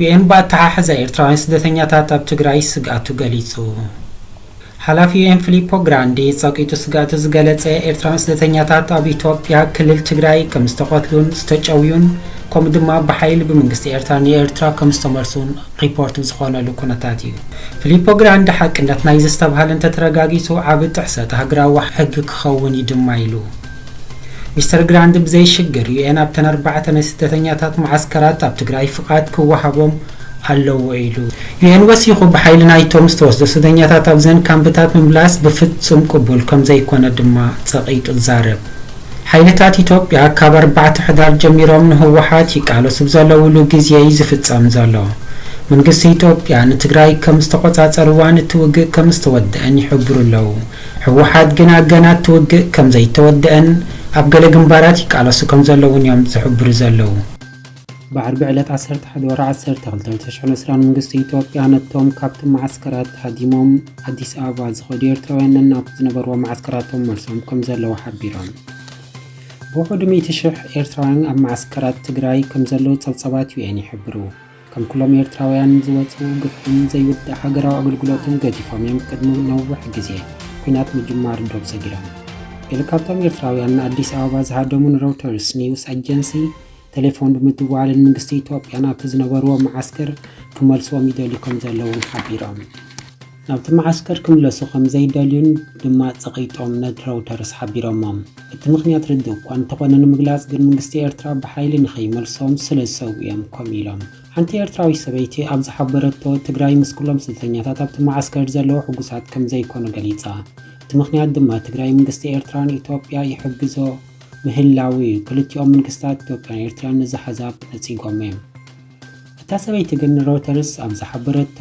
ዩኤን ብኣተሓሕዛ ኤርትራውያን ስደተኛታት ኣብ ትግራይ ስግኣቱ ገሊጹ። ሓላፊ ዩኤን ፊሊፖ ግራንዲ ጸቂጡ ስግኣቱ ዝገለጸ ኤርትራውያን ስደተኛታት ኣብ ኢትዮጵያ ክልል ትግራይ ከም ዝተቐትሉን ዝተጨውዩን ከምኡ ድማ ብሓይሊ ብመንግስቲ ኤርትራ ንኤርትራ ከም ዝተመልሱን ሪፖርት ዝኾነሉ ኩነታት እዩ። ፊሊፖ ግራንዲ ሓቅነት ናይዚ ዝተብሃለ እንተተረጋጊጹ ዓቢ ጥሕሰት ሃገራዊ ሕጊ ክኸውን እዩ ድማ ኢሉ። ሚስተር ግራንድ ብዘይሽግር ዩኤን ኣብተን ኣርባዕተ ናይ ስደተኛታት መዓስከራት ኣብ ትግራይ ፍቓድ ክወሃቦም ኣለዎ ኢሉ። ዩኤን ወሲኹ ብሓይሊ ናይቶም ዝተወስዱ ስደተኛታት ኣብዘን ካምፕታት ምምላስ ብፍጹም ቅቡል ከምዘይኮነ ድማ ጸቒጡ ዛረብ። ሓይልታት ኢትዮጵያ ካብ ኣርባዕተ ሕዳር ጀሚሮም ንህወሓት ይቃለሱ ብዘለውሉ ግዜ'ዩ ዝፍጸም ዘሎ። መንግስቲ ኢትዮጵያ ንትግራይ ከም ዝተቖጻጸርዋን እቲ ውግእ ከም ዝተወደኣን ይሕብሩ ኣለዉ። ህወሓት ግና ገና እቲ ውግእ ከም ዘይተወደኣን ኣብ ገለ ግንባራት ይቃለሱ ከም ዘለዉን እዮም ዝሕብሩ ዘለዉ። ብዓርቢ ዕለት ዓሰርተ ሓደ ወርሒ ዓሰርተ ክልተ ዕለት ሽሕን ዕስራን መንግስቲ ኢትዮጵያ ነቶም ካብቲ መዓስከራት ሃዲሞም ኣዲስ ኣበባ ዝኸዱ ኤርትራውያን ነናብ ዝነበርዎ መዓስከራቶም መልሶም ከም ዘለዉ ሓቢሮም። ብውሕዱ ሚእቲ ሽሕ ኤርትራውያን ኣብ መዓስከራት ትግራይ ከም ዘለዉ ጸብጻባት UN ይሕብሩ። ከም ኩሎም ኤርትራውያን ዝወጽኡ ግፍዕን ዘይውዳእ ሃገራዊ ኣገልግሎትን ገዲፎም እዮም ቅድሚ ነዊሕ ግዜ ኩናት ምጅማር ዶብ ሰጊሮም። ገለ ካብቶም ኤርትራውያን ንኣዲስ ኣበባ ዝሃደሙ ንሮይተርስ ኒውስ ኣጀንሲ ተሌፎን ብምድዋል ንመንግስቲ ኢትዮጵያ ናብቲ ዝነበርዎ መዓስከር ክመልስዎም ይደልዩ ከምዘለዉ ሓቢሮም። ናብቲ መዓስከር ክምለሱ ከም ዘይደልዩን ድማ ጸቒጦም ነድረውተርስ ሓቢሮሞም። እቲ ምኽንያት ርዱእ እኳ እንተኾነ ንምግላጽ ግን ምንግስቲ ኤርትራ ብሓይሊ ንኸይመልሶም ስለ ዝሰግኡ እዮም ከምኡ ኢሎም። ሓንቲ ኤርትራዊት ሰበይቲ ኣብ ዝሓበረቶ ትግራይ ምስ ኩሎም ስደተኛታት ኣብቲ መዓስከር ዘለዉ ሕጉሳት ከም ዘይኮኑ ገሊጻ። እቲ ምኽንያት ድማ ትግራይ ምንግስቲ ኤርትራ ንኢትዮጵያ ይሕግዞ ምህላዉ እዩ። ክልቲኦም ምንግስታት ኢትዮጵያን ኤርትራን ነዚ ሓዛብ ነጺጎሞ እዮም። እታ ሰበይቲ ግን ንሮይተርስ ኣብ ዝሓበረቶ፣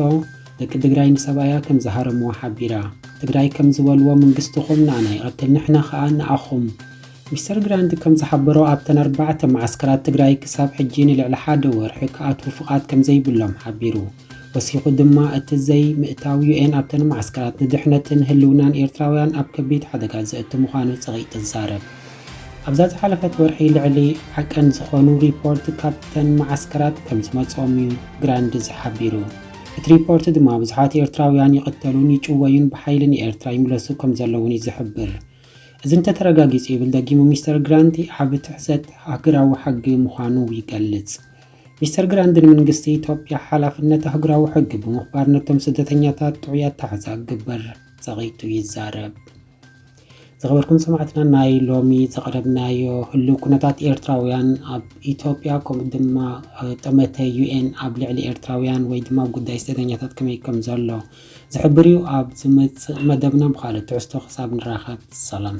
ደቂ ትግራይ ንሰብኣያ ከም ዝሃረምዎ ሓቢራ። ትግራይ ከም ዝበልዎ ምንግስትኹም ንኣና ይቐትል ንሕና ከኣ ንኣኹም። ሚስተር ግራንት ከም ዝሓበሮ ኣብተን ኣርባዕተ መዓስከራት ትግራይ ክሳብ ሕጂ ንልዕሊ ሓደ ወርሒ ክኣትዉ ፍቓድ ከም ዘይብሎም ሓቢሩ። ወሲኹ ድማ እቲ ዘይ ምእታው ዩኤን ኣብተን መዓስከራት ንድሕነትን ህልውናን ኤርትራውያን ኣብ ከቢድ ሓደጋ ዘእቱ ምዃኑ ጸቒጡ ይዛረብ። ኣብዛ ዝሓለፈት ወርሒ ልዕሊ ዓቀን ዝኾኑ ሪፖርት ካብተን መዓስከራት ከምዝመጽኦም እዩ ግራንድዝ ሓቢሩ። እቲ ሪፖርት ድማ ብዙሓት ኤርትራውያን ይቕተሉን ይጭወዩን ብሓይሊ ንኤርትራ ይምለሱ ከምዘለዉን እዩ ዝሕብር። እዚ እንተተረጋጊጹ ይብል ደጊሙ ሚስተር ግራንቲ ዓቢ ትሕዘት ኣህግራዊ ሕጊ ምዃኑ ይገልጽ። ሚስተር ግራንድ ንምንግስቲ ኢትዮጵያ ሓላፍነት ኣህጉራዊ ሕጊ ብምኽባር ነቶም ስደተኛታት ጥዑይ ኣታሕዛ ክግበር ጸቒጡ ይዛረብ። ዝኸበርኩም ሰማዕትና ናይ ሎሚ ዘቕረብናዮ ህሉው ኩነታት ኤርትራውያን ኣብ ኢትዮጵያ ከምኡ ድማ ጠመተ ዩኤን ኣብ ልዕሊ ኤርትራውያን ወይ ድማ ጉዳይ ስደተኛታት ከመይ ከም ዘሎ ዝሕብር እዩ ኣብ ዝመፅእ መደብና ብካልእ ትሕዝቶ ክሳብ ንራኸብ ሰላም